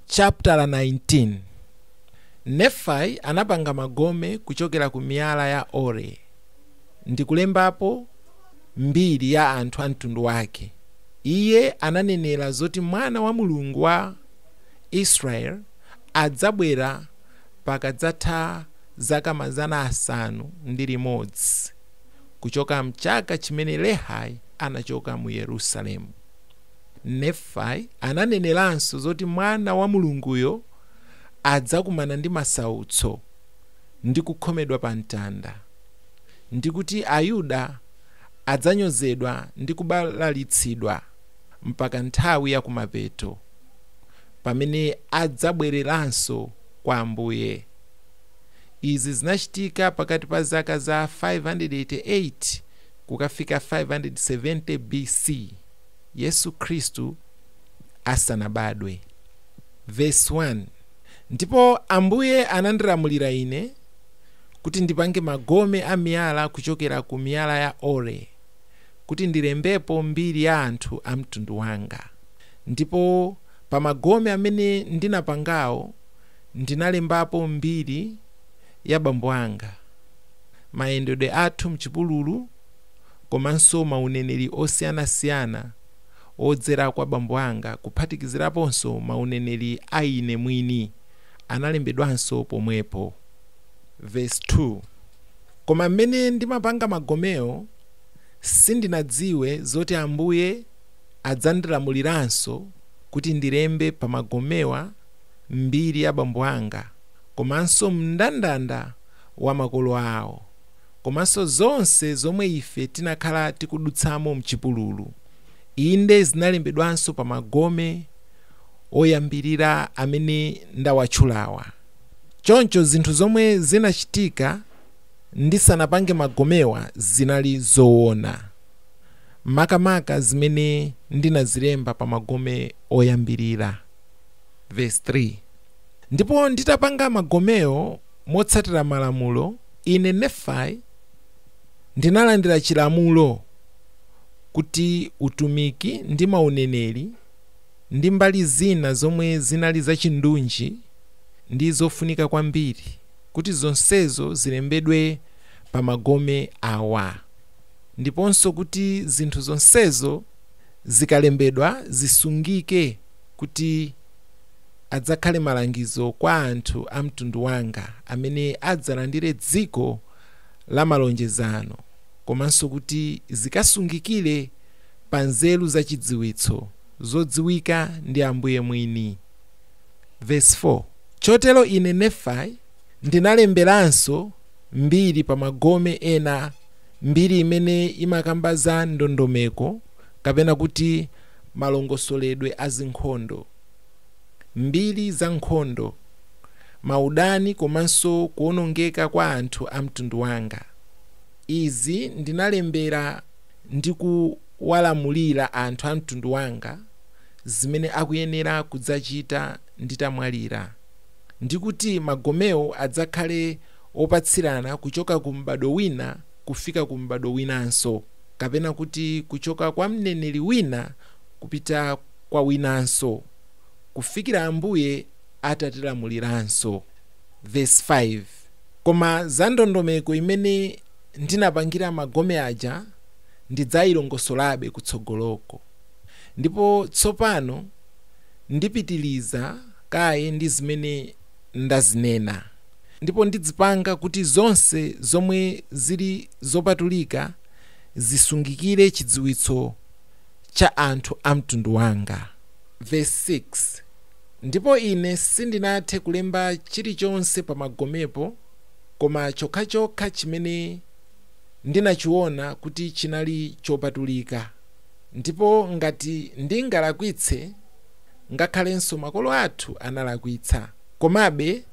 Chaputala 19, Nefai anapanga magome kuchokera ku miyala ya Ore ndi kulembapo mbiri ya anthu a mtundu wake. Iye ananenera zoti Mwana wa Mulungu wa Israeli adzabwera pakadzatha zaka mazana asanu ndi limodzi kuchoka m'chaka chimene Lehi anachoka mu Yerusalemu. Nefai ananeneranso zoti Mwana wa Mulunguyo adzakumana ndi masautso ndi kukhomedwa pamtanda, ndi kuti Ayuda adzanyozedwa ndi kubalalitsidwa mpaka nthawi ya kumapeto, pamene adzabwereranso kwa Ambuye. Izi zinachitika pakati pa zaka za 588 kukafika 570 B.C. Yesu Khristu asanabadwe. Vesi 1, Ndipo Ambuye anandilamulira ine kuti ndipange magome a miyala kuchokera ku miyala ya ore, kuti ndilembepo mbiri ya anthu a mtundu wanga. Ndipo pa magome amene ndinapangawo ndinalembapo mbiri ya bambo anga, mayendedwe athu m'chipululu komanso mauneneri osiyanasiyana odzera kwa bambo anga kuphatikiziraponso mauneneri a ine mwini analembedwanso pomwepo. Vesi 2, Koma m'mene ndimapanga magomewo sindinadziwe zoti Ambuye adzandilamuliranso kuti ndilembe pa magomewa mbiri ya bambo anga. komanso mndandanda wa makolo awo, komanso zonse zomwe ife tinakhala tikudutsamo mchipululu, inde, zinalembedwanso pa magome oyambirira amene ndawatchulawa. Choncho zinthu zomwe zinachitika ndisanapange magomewa zinali zoona, makamaka zimene ndinazilemba pa magome oyambirira. Vesi 3. Ndipo nditapanga magomewo motsatira malamulo, ine, Nefai, ndinalandira chilamulo kuti utumiki ndi mauneneri ndi mbali zina zomwe zinali zachindunji ndi zofunika kwambiri, kuti zonsezo zilembedwe pa magome awa, ndiponso kuti zinthu zonsezo zikalembedwa zisungike. kuti adzakhale malangizo kwa anthu a mtundu wanga amene adzalandire dziko la malonjezano komanso kuti zikasungikire pa nzeru za chidziwitso zodziwika ndi Ambuye mwini. Vesi 4, Chotero ine Nefai ndinalemberanso mbiri pa magome ena, mbiri imene imakamba za ndondomeko kapena kuti malongosoledwe a zinkhondo, mbiri za nkhondo, maudani komanso kuwonongeka kwa anthu a mtundu wanga. Izi ndinalembera ndi kuwalamulira anthu a mtundu wanga zimene akuyenera kudzachita nditamwalira, ndi kuti magomewo adzakhale opatsirana kuchoka ku m'badwo wina kufika ku m'badwo winanso. kapena kuti kuchoka kwa mneneri wina kupita kwa winanso, kufikira Ambuye atatilamuliranso. Vesi 5, Koma za ndondomeko imene ndinapangira magome aja ndidzailongosolabe kutsogoloko. Ndipo tsopano ndipitiriza kaye ndi zimene ndazinena. ndipo ndidzipanga kuti zonse zomwe zili zopatulika zisungikire chidziwitso cha anthu a mtundu wanga. Vesi 6, Ndipo ine sindinathe kulemba chilichonse pa magomepo koma chokhachokha chimene ndinachiona kuti chinali chopatulika, ndipo ngati ndingalakwitse, ngakhalenso makolo athu analakwitsa, komabe,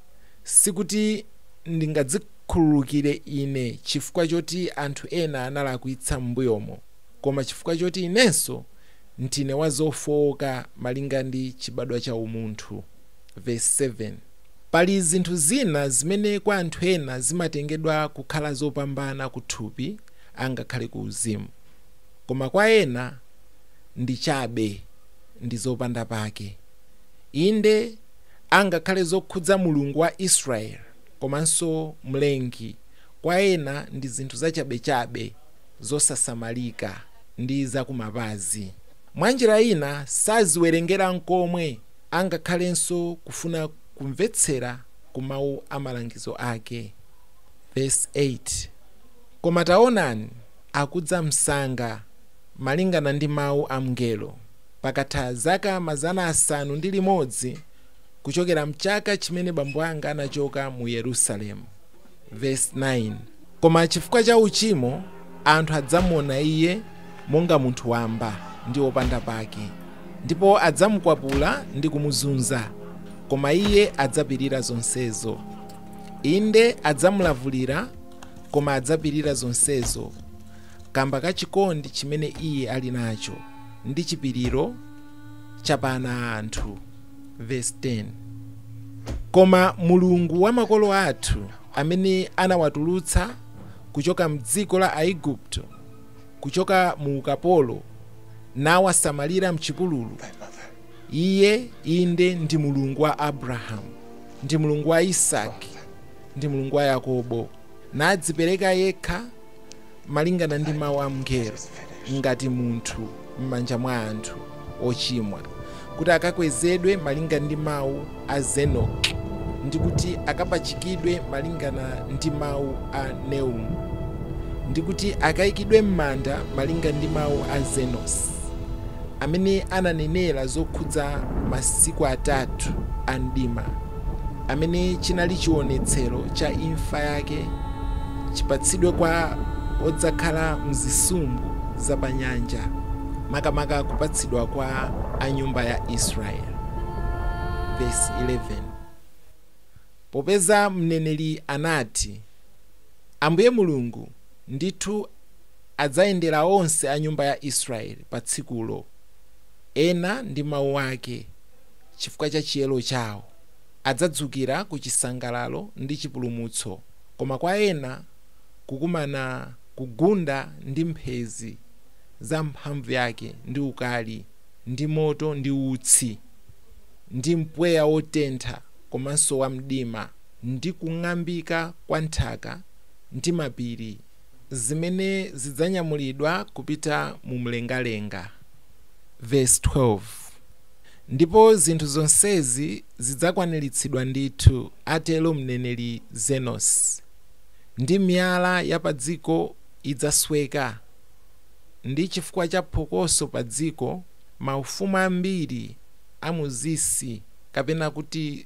Sikuti ndingadzikhululukire ine chifukwa choti anthu ena analakwitsa m'mbuyomo, koma chifukwa choti inenso ndine wa zofooka malinga ndi chibadwa cha umunthu. Vesi 7, Pali zinthu zina zimene kwa anthu ena zimatengedwa kukhala zopambana kuthupi angakhale kuuzimu, koma kwa ena ndi chabe ndi zopanda pake. Inde. angakhale zokhudza Mulungu wa Israeli komanso Mlengi, kwa ena ndi zinthu zachabechabe, zosasamalika, ndi zakumapazi. Mwa njira ina, saziwerengera nkomwe, angakhalenso kufuna kumvetsera ku mawu a malangizo ake. Vesi 8, Koma taonani, akudza msanga, malingana ndi mawu a mngelo. Pakatha zaka mazana asanu ndi limodzi kuchokera m'chaka chimene bambo anga anachoka mu Yerusalemu, vesi 9, koma chifukwa cha uchimo anthu adzamuona iye monga munthu wamba ndi wopanda pake, ndipo adzamukwapula ndi kumuzunza, koma iye adzapirira zonsezo. Inde, adzamulavulira, koma adzapirira zonsezo kamba ka chikondi chimene iye ali nacho. ndi chipiriro cha pa ana a anthu, vesi 10, Koma Mulungu wa makolo athu, amene anawatulutsa kuchoka m'dziko la Aigupto, kuchoka mu ukapolo, nawasamalira m'chipululu, Iye, inde, ndi Mulungu wa Abrahamu, ndi Mulungu wa Isaki, ndi Mulungu wa Yakobo, nadzipereka yekha malingana ndi mawu a mngelo, ngati munthu m'manja mwa anthu ochimwa, kuti akakwezedwe malinga ndi mawu a Zenoki, ndi kuti akapachikidwe malingana ndi mawu a Neumu, ndi kuti akaikidwe m'manda malinga ndi mawu a Zenosi, amene ananenera zokhudza masiku atatu a mdima. amene chinali chiwonetsero cha imfa yake chipatsidwe kwa odzakhala m'zisumbu za panyanja, makamaka kupatsidwa kwa a nyumba ya Israeli. Vesi 11, Popeza mneneri anati, Ambuye Mulungu ndithu adzayendera onse a nyumba ya Israeli pa tsikulo, ena ndi mawu ake, chifukwa cha chiyero chawo. adzadzukira ku chisangalalo ndi chipulumutso, koma kwa ena kukumana kugunda ndi mphezi za mphamvu yake ndi ukali, ndi moto ndi utsi, ndi mpweya wotentha komanso wa mdima, ndi kung'ambika kwa nthaka ndi mapiri, zimene zidzanyamulidwa kupita mu mlengalenga. Vesi 12. Ndipo zinthu zonsezi zidzakwaniritsidwa ndithu, atero mneneri Zenosi, ndi miyala ya padziko idzasweka, ndi chifukwa cha phokoso padziko maufumu ambiri a mu zisi, kapena kuti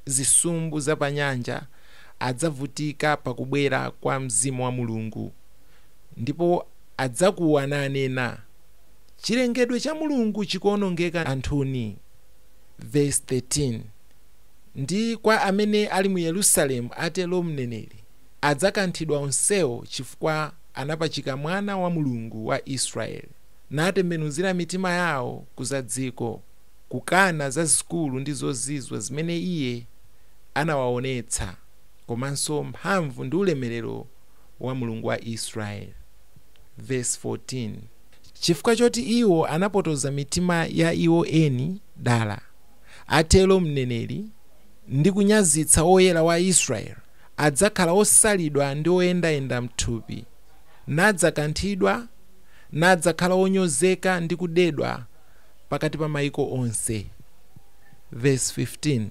zisumbu za panyanja, adzavutika pa kubwera kwa Mzimu wa Mulungu, ndipo adzakuwa nanena. chilengedwe cha Mulungu chikuonongeka anthuni, vesi 13, ndi kwa amene ali mu Yerusalemu, atero mneneri, adzakanthidwa onsewo, chifukwa anapachika Mwana wa Mulungu wa Israeli, natembenuzira mitima yawo ku za dziko, kukana zazikulu ndi zozizwa zimene iye anawaonetsa, komanso mphamvu ndi ulemerero wa Mulungu wa Israeli. Vesi 14, Chifukwa choti iwo anapotoza mitima ya iwo eni dala, atero mneneri, ndi kunyazitsa Woyera wa Israeli, adzakhala osalidwa ndi oyendayenda m'thupi, nadzakanthidwa, nadzakhala onyozeka ndi kudedwa pakati pa maiko onse. Vesi 15,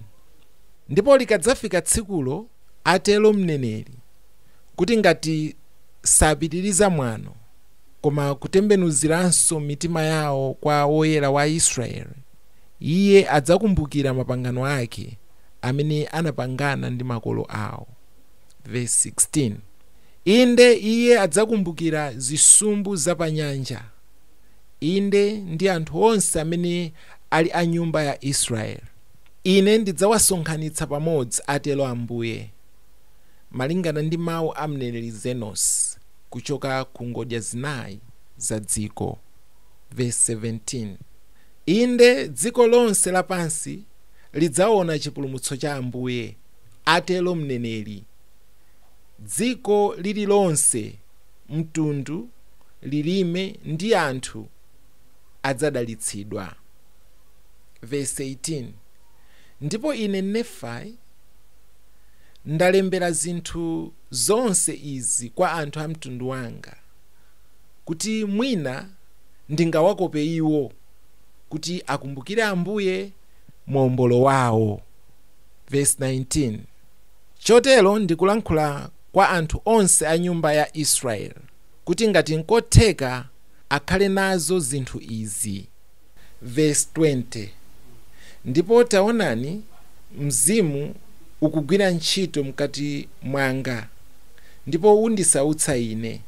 Ndipo likadzafika tsikulo, atero mneneri, kuti ngati sapitiriza mwano koma kutembenuziranso mitima yawo kwa Woyera wa Israeli, Iye adzakumbukira mapangano ake amene anapangana ndi makolo awo. Vesi 16, Inde, Iye adzakumbukira zisumbu za pa nyanja, inde, ndi anthu onse amene ali a nyumba ya Israeli. Ine ndidzawasonkhanitsa pamodzi, atero Ambuye. malingana ndi mawu a mneneri Zenosi, kuchoka ku ngodya zinayi za dziko. Vesi 17, Inde, dziko lonse lapansi lidzaona chipulumutso cha Ambuye, atero mneneri. Dziko lililonse, mtundu, lilime, ndi anthu adzadalitsidwa. Vesi 18, Ndipo ine, Nefai. ndalembera zinthu zonse izi kwa anthu a mtundu wanga, kuti mwina ndingawakope iwo kuti akumbukire Ambuye, Mombolo wawo. Vesi 19, Chotero ndikulankhula kwa anthu onse a nyumba ya Israeli, kuti ngati nkotheka akhale nazo zinthu izi. vesi 20, ndipo taonani mzimu ukugwira ntchito mkati mwanga, ndipo undisautsa ine,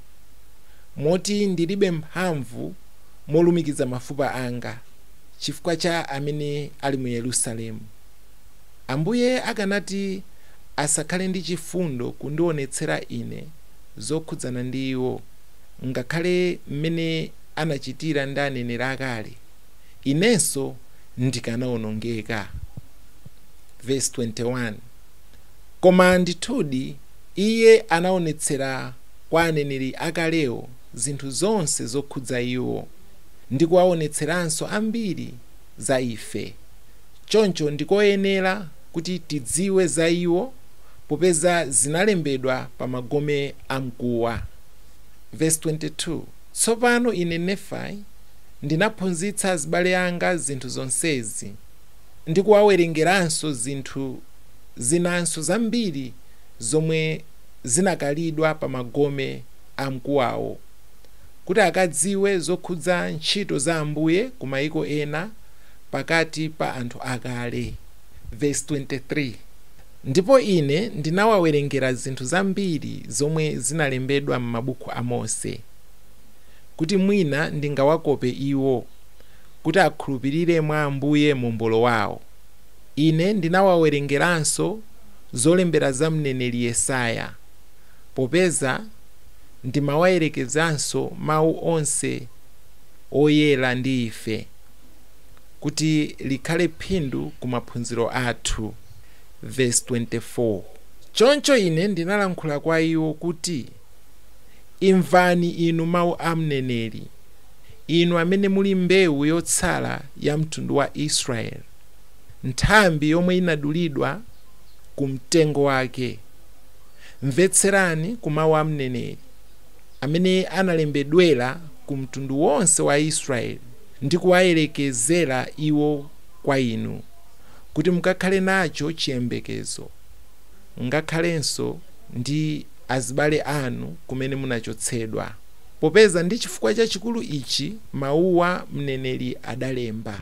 moti ndilibe mphamvu molumikiza mafupa anga, chifukwa cha amene ali mu Yerusalemu. Ambuye akanati asakhale ndi chifundo kundionetsera ine zokhudzana ndi iwo? ngakhale mmene anachitira ndi aneneri akale, inenso ndikanawonongeka. Vesi 21, Koma ndithudi iye anaonetsera kwa aneneri akalewo zinthu zonse zokhudza iwo, ndi kuwaonetseranso ambiri za ife. Choncho ndi koyenera kuti tidziwe za iwo popeza zinalembedwa pa magome amkuwa. Vesi 22, Tsopano ine, Nefai, ndinaphunzitsa azibale anga zinthu zonsezi, ndi kuwawerengeranso zinthu zinanso zambiri zomwe zinakalidwa pa magome a mkuwawo, kuti akadziwe zokhudza ntchito za Ambuye ku maiko ena, pakati pa anthu akale. Vesi 23. Ndipo ine ndinawawerengera zinthu zambiri zomwe zinalembedwa mmabuku a Mose, kuti mwina ndingawakope iwo, kuti akhulupirire mwa Ambuye Mombolo wawo. Ine ndinawawerengeranso zolembera za mneneri Yesaya, popeza ndimawayerekezanso mawu onse oyera ndi ife, kuti likhale phindu ku maphunziro athu. Vesi 24, Choncho ine ndinalankhula kwa iwo kuti, Imvani inu mawu a mneneri, inu amene muli mbewu yotsala ya mtundu wa Israeli, nthambi yomwe inadulidwa ku mtengo wake. Mvetserani ku mawu a mneneri, amene analembedwera ku mtundu wonse wa Israeli ndi kuwayerekezera iwo kwa inu. kuti mukakhale nacho chiyembekezo, ngakhalenso ndi azibale anu kumene munachotsedwa, popeza ndi chifukwa chachikulu ichi mauwa mneneri adalemba.